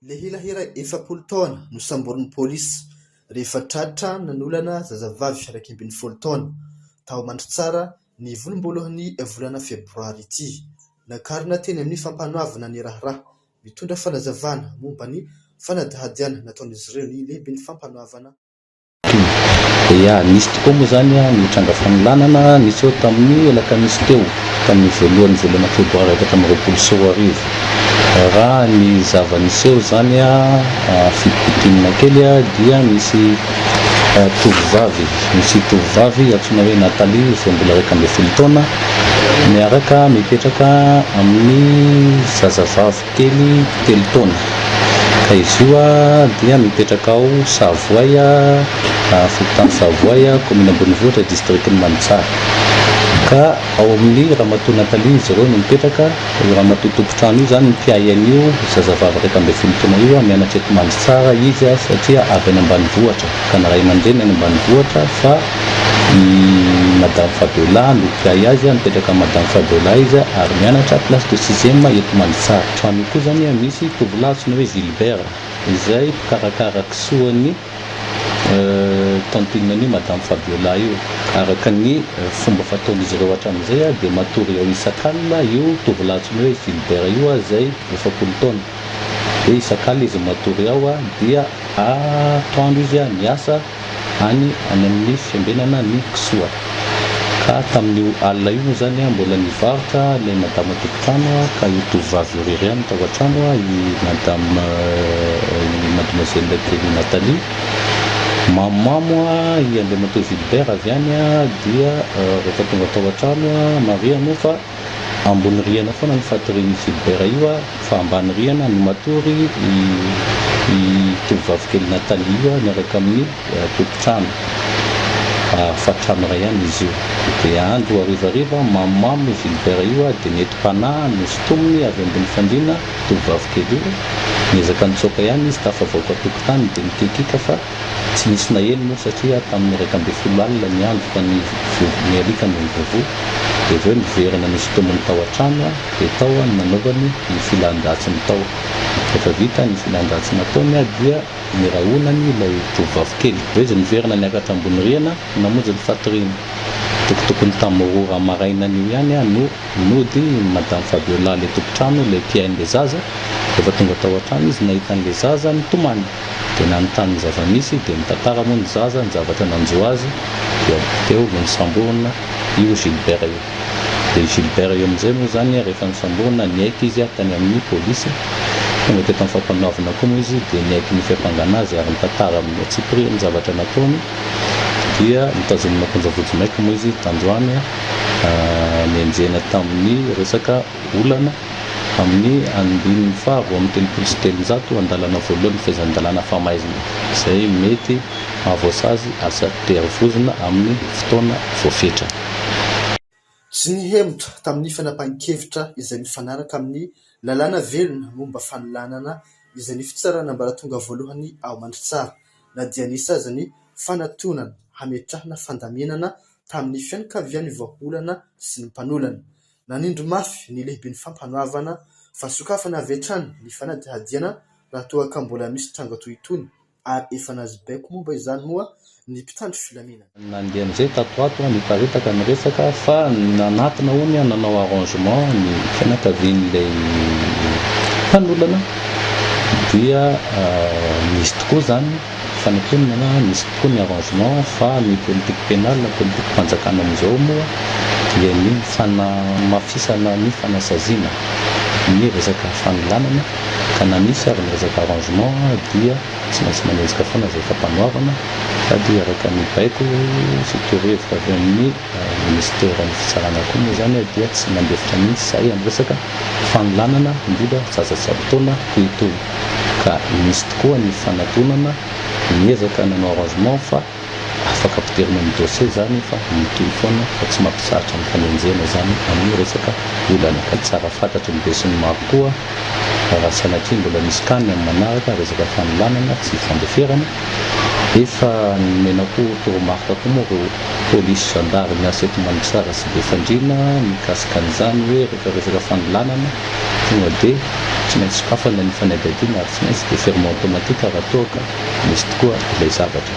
Lehilahy iray efapolo taona no samborin'ny polisy rehefa tratra nanolana zazavavy iraika ambin'ny folo taona tao Mandritsara ny volomboalohany volana febroary ity. Nakarina teny amin'ny fampanoavana ny raharaha. Mitondra fanazavana momba ny fanadihadiana nataon'izy ireo ny lehiben'ny fampanoavana. Dia nisy tokoa moa izany ny tranga fanolanana niseho tamin'ny alakamisy teo, tamin'ny voalohan'ny volana febroary efatra amby roapolo sy roa arivo. Raha ny zava-niseho izany, fitopitianina kely, dia nisy tovovavy, nisy tovovavy antsoina hoe Nathalie izay mbola iraika ambin'ny folo taona miaraka mipetraka amin'ny zazavavy. Teny telo taona, ka izy io dia mipetraka ao Savoay, fokontany Savoay, kaominina Ambonivohitra, distrikan'i Manitsara. Ka ao amin'ny ramatoa Nathalie izy ireo no mipetraka, io ramatoa tompon-trano io izany no mpiahy an'io zazavavy iraika ambin'ny folo taona io, mianatra eto Manitsara izy satria avy any ambanivohitra, ka ny ray aman-dreniny any ambanivohitra fa. i madame Fabiola no mpiahy azy a, mipetraka amin'i madame Fabiola izy ary mianatra classe de sixième eto Mandritsara. Trano io koa izany a misy tovolahy antsoina hoe Gilbert izay mpikarakara kisoan'ny tantinan'io madame Fabiola io. Araka ny fomba fataon'izy ireo hatramin'izay a dia matory eo isak'alina io tovolahy antsoina hoe Gilbert io a izay efapolo taona. Dia isak'alina izy matory ao a dia atoandro izy a miasa. any any amin'ny fiambenana ny kisoa. Ka tamin'io alina io moa izany mbola nivarotra ilay madama tompon-trano ka io tovovavy io irery ihany no tao an-trano, i madama, i mademoiselle kely Nathalie. Mamomamo i andriamatoa Vilbert avy any dia rehefa tonga tao an-trano, Maria moa fa. ambony rihana foana ny fatorian'io Philbert io fa ambany rihana no matory i tovovavy kely Nathalie io miaraka amin'ny tompon-trano fa trano iray ihany izy io dia andro harivariva mamomamo i Vilbert io dia nentim-panahy no sintominy avy ambony fandriana tovovavy kely io niezaka nitsoaka ihany izy tafavoaka tokotany dia nikikika fa Tsy nisy naheno moa satria tamin'ny iraika ambin'ny folo alina ny andro ka ny vovony ny alika no nibavò. Dia avy eo niverina nosintominy tao an-trano aho dia tao aho no nanaovany ny filan-dratsiny tao. Rehefa vita ny filan-dratsy nataony aho dia nirahonany ilay tovovavy kely. Avy eo izy niverina niakatra ambony rihana namonjy ny fatoriana. Tokotokony tamin'ny roa ora maraina anio ihany aho no nody Madame Fabiola ilay tompon-trano ilay mpihaino ilay zaza. Rehefa tonga tao an-trano izy nahita an'ilay zaza nitomany. dia nanontany ny zava-misy, dia nitantara moa ny zaza ny zavatra nanjo azy, dia teo no nisamborina io Gilbert io. Dia i Gilbert io amin'izay moa izany rehefa nisamborina, niaiky izy tany amin'ny polisy, tonga teto amin'ny fampanoavana koa moa izy dia niaiky ny fiampangana azy ary nitantara amin'ny antsipiriany ny zavatra nataony, dia notazomina am-ponja vodimaika moa izy tandroany, nenjehina tamin'ny resaka. olana amin'ny andininy faha roa amby telopolo sy telonjato andalana voalohan'ny fehezan-dalàna famaizina izay mety mahavoasazy aza tery vozona amin'ny fotoana voafetra. Tsy nihemotra tamin'ny fanapahan-kevitra izay mifanaraka amin'ny lalàna velona momba fanolanana izay ny Fitsarana Ambaratonga Voalohany ao Mandritsara na dia nisy aza ny fanatonana hametrahana fandaminana tamin'ny fianakavian'ny vahaolana sy ny mpanolana Nanindry mafy ny lehiben'ny Fampanoavana fa sokafana avy hatrany ny fanadihadiana raha toa ka mbola misy tranga toy itony ary efa nahazo baiko momba izany moa ny mpitandro filaminana. Nandeha amin'izay tato ho ato, niparitaka ny resaka fa nanatona hono nanao arrangement ny fianakavian'ilay mpanolana dia nisy tokoa izany. Fa ny mponina na misy kokoa ny arrangement fa ny politique pénale na politique fanjakana amin'izao moa dia ny fanamafisana ny fanasaziana ny resaka fanolanana ka na misy ary ny resaka arrangement dia tsy maintsy manenjika foana izay fampanoavana sady araka ny baiko sy torohevitra avy amin'ny Ministeran'ny Fitsarana koa moa izany dia tsy nandefitra mihitsy izahay amin'ny resaka fanolanana indrindra zaza tsy ampy taona toy itony ka nisy tokoa ny fanatonana ny ezaka nanao arrangement fa afaka ampidirina amin'ny dossier izany fa mitohy foana fa tsy mampizatra ny fanenjehana izany amin'ny resaka olana ka tsara fantatry ny besinimaro koa raha sanatria mbola misy tany amin'ny manaraka resaka fanolanana tsy fandeferana efa nomenako toromarika koa moa ireo polisy, zandary miasa eto Mandritsara sy Befandriana mikasika an'izany hoe rehefa resaka fanolanana tonga dia tsy maintsy sokafana ny fanadihadiana ary tsy maintsy déferment automatique raha toa ka misy tokoa ilay zavatra.